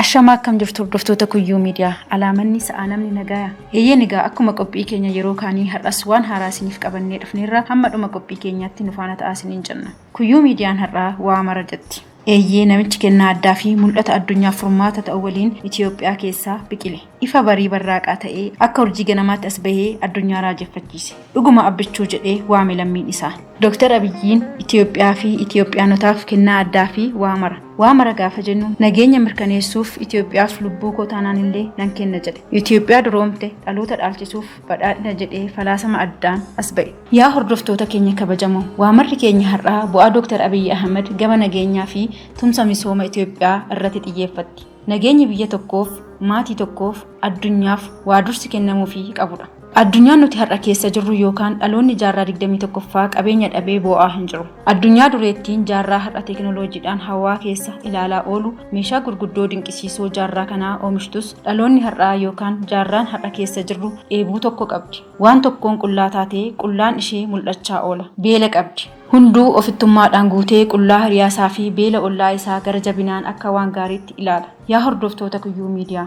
Ashamaa akkam jirtu hordoftoota kuyyuu miidiyaa alaamanni sa'aa namni nagaaya eeyyeen egaa akkuma qophii keenya yeroo kaanii har'as waan haaraa isiniif qabannee dhufneerra hamma dhuma qophii keenyaatti nu faana ta'aa isiniin jenna kuyyuu miidiyaan har'aa waa mara jetti. Eeyyee, namichi kennaa addaa fi mul'ata addunyaaf furmaata ta'u waliin Itoophiyaa keessaa biqile. Ifa barii barraaqaa ta'ee, akka urjii ganamaatti as bahee addunyaa raajeffachiise. Dhuguma Abbichuu jedhee waame lammiin isaa. Doktar Abiyyiin Itoophiyaa fi Itoophiyaanotaaf kennaa addaa fi waa mara. Waa mara gaafa jennu, nageenya mirkaneessuuf Itoophiyaaf lubbuu koo taanaan illee nan kenna jedhe. Itoophiyaa duroomte dhaloota dhaalchisuuf. badhaadhina jedhee falaasama addaan as ba'e. Yaa hordoftoota keenya kabajamoo, waa marri keenya har'aa bu'aa Dooktar Abiyyi Ahimad gama nageenyaa fi tumsa misooma Itoophiyaa irratti xiyyeeffatti. Nageenyi biyya tokkoof, maatii tokkoof, addunyaaf waa dursi kennamuufii qabudha. Addunyaan nuti har'a keessa jirru yookaan dhaloonni jaarraa 21ffaa qabeenya dhabee boo'aa hin jiru. Addunyaa dureettiin jaarraa har'a teekinooloojiidhaan hawaa keessa ilaalaa oolu meeshaa gurguddoo dinqisiisoo jaarraa kanaa oomishtus dhaloonni har'aa yookaan jaarraan har'a keessa jirru dheebuu tokko qabdi. Waan tokkoon qullaa taatee qullaan ishee mul'achaa oola. Beela qabdi. Hunduu ofittummaadhaan guutee qullaa hiriyaa isaa fi beela ollaa isaa gara jabinaan akka waan gaariitti ilaala. Yaa hordoftoota Kuyyuu Miidiyaa!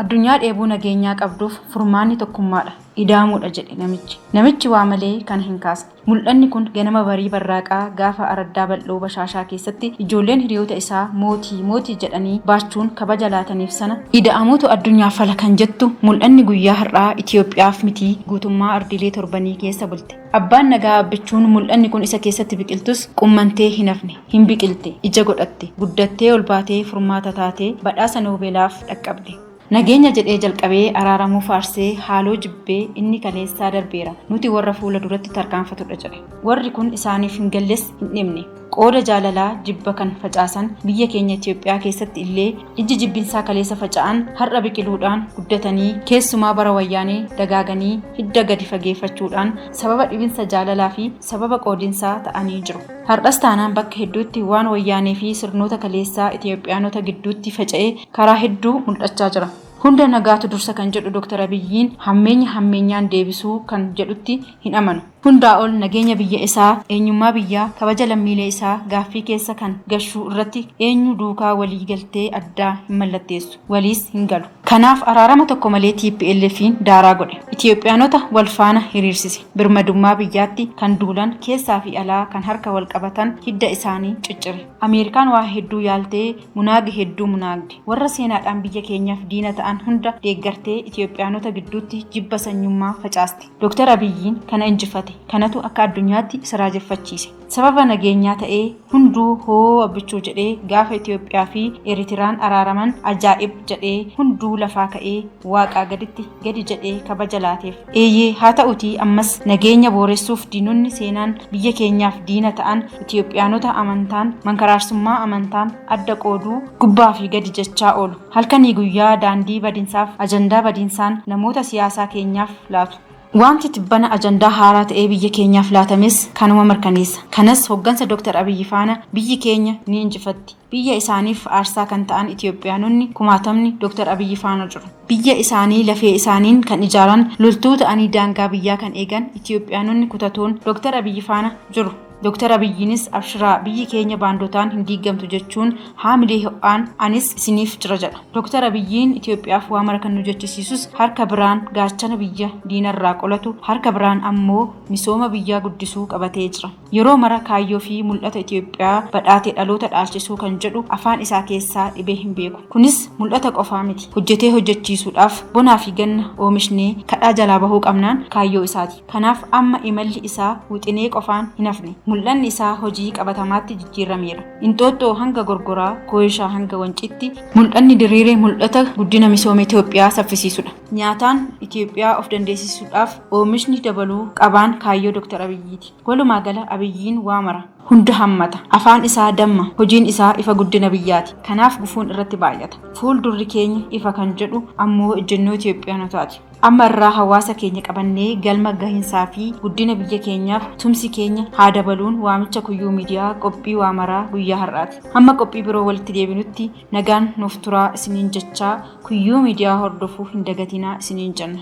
Addunyaa dheebuu nageenyaa qabduuf furmaanni tokkummaadha, ida'amuudha jedhe namichi. Namichi waa malee kana hin kaasne. Mul'anni kun ganama barii barraaqaa gaafa araddaa bal'oo Bashaashaa keessatti ijoolleen hiriyoota isaa Mootii! Mootii! jedhanii baachuun kabaja laataniif sana, Ida'amuutu addunyaaf fala kan jettu mul'anni guyyaa har'aa Itoophiyaaf mitii guutummaa ardiilee torbanii keessa bulte. Abbaan Nagaa Abbichuun mul'anni kun isa keessatti biqiltus qummantee hin hafne. Hin biqilte, ija godhatte, guddattee ol baatee furmaata taatee badhaasa Noobeelaaf dhaqqabde. Nageenya jedhee jalqabee araaramuu faarsee haaloo jibbee inni kaleessaa darbeera, nuti warra fuula duratti tarkaanfatudha jedhe. Warri kun isaaniif hin galles hin dhibne. Qooda jaalalaa jibba kan facaasan biyya keenya Itoophiyaa keessatti illee ijji jibbinsaa kaleessa faca'an har'a biqiluudhaan guddatanii keessumaa bara wayyaanee dagaaganii hidda gadi fageeffachuudhaan sababa dhibinsa jaalalaa fi sababa qoodinsaa ta'anii jiru. Hardhas taanaan bakka hedduutti waan Wayyaanee fi sirnoota kaleessaa Itiyoophiyaanota gidduutti faca'e karaa hedduu muldhachaa jira. Hunda nagaatu dursa kan jedhu Dr. Abiyyiin hammeenya hammeenyaan deebisuu kan jedhutti hin amanu. Hundaa ol nageenya biyya isaa, eenyummaa biyyaa, kabaja lammiilee isaa gaaffii keessa kan gashuu irratti eenyuu duukaa walii galtee addaa hin mallatteessu. Waliis hin galu. Kanaaf araarama tokko malee TPLFiin daaraa godhe. Itiyoophiyaanota wal faana hiriirsise. Birmadummaa biyyaatti kan duulan, keessaa fi alaa kan harka wal qabatan hidda isaanii ciccire. Ameerikaan waa hedduu yaaltee munaage hedduu munaagde. Warra seenaadhaan biyya keenyaaf diina ta'an hunda deeggartee Itiyoophiyaanota gidduutti jibba sanyummaa facaaste. Dr. Abiyyiin kana injifate. Kanatu akka addunyaatti isa raajeffachiise. Sababa nageenyaa ta'ee hunduu hoo abbichuu jedhee gaafa Itoophiyaa fi Eritiraan araaraman ajaa'ib jedhee hunduu lafaa ka'ee waaqaa gaditti gadi jedhee kabaja laateef. Eeyyee haa ta'utii ammas nageenya booressuuf diinonni seenaan biyya keenyaaf diina ta'an Itoophiyaanota amantaan, mankaraarsummaa amantaan adda qooduu, gubbaa fi gadi jechaa oolu. Halkanii guyyaa daandii badinsaaf ajandaa badinsaan namoota siyaasaa keenyaaf laatu. Waanti tibbana ajandaa haaraa ta'ee biyya keenyaaf laatames kanuma mirkaneessa. Kanas hoggansa Dr. Abiyyi faana biyyi keenya ni injifatti. Biyya isaaniif aarsaa kan ta'an Itiyoophiyaanonni kumaatamni Dr. Abiyyi faana jiru. Biyya isaanii lafee isaaniin kan ijaaran, loltuu ta'anii daangaa biyyaa kan eegan Itiyoophiyaanonni kutatoon Dr. Abiyyi faana jiru. Dooktar Abiyyiinis abshiraa biyyi keenya baandotaan hin diigamtu jechuun haamilee ho'aan anis isiniif jira jedha. Dooktar Abiyyiin Itoophiyaaf waa mara kan nu jechisiisus harka biraan gaachana biyya diinarraa qolatu harka biraan ammoo misooma biyyaa guddisuu qabatee jira. Yeroo mara kaayyoo fi mul'ata Itoophiyaa badhaate dhaloota dhaalchisuu kan jedhu afaan isaa keessaa dhibee hin beeku. Kunis mul'ata qofaa miti. Hojjetee hojjechiisuudhaaf bonaa fi ganna oomishnee kadhaa jalaa bahuu qabnaan kaayyoo isaati. Kanaaf amma imalli isaa wixinee qofaan hin hafne. Mul'anni isaa hojii qabatamaatti jijjiirrameera. Inxooxxoo hanga Gorgoraa, Kooyishaa hanga Wanciitti mul'anni diriire mul'ata guddina misooma Itoophiyaa saffisiisudha. Nyaataan Itoophiyaa of dandeessisuudhaaf oomishni dabaluu qabaan kaayyoo Dr. Abiyyiiti. Walumaa gala Abiyyiin waa mara, hunda hammata. Afaan isaa damma, hojiin isaa ifa guddina biyyaati. Kanaaf gufuun irratti baay'ata. Fuul durri keenya ifa kan jedhu ammoo ejjennoo Itoophiyaanotaati. Amma irraa hawaasa keenya qabannee galma gahinsaa fi guddina biyya keenyaaf tumsi keenya haa dabaluun waamicha Kuyyuu Media qophii waa maraa guyyaa har'aati. Hamma qophii biroo walitti deebinutti nagaan nuuf turaa isiniin jechaa Kuyyuu Media hordofuu hin dagatinaa isiniin jenna.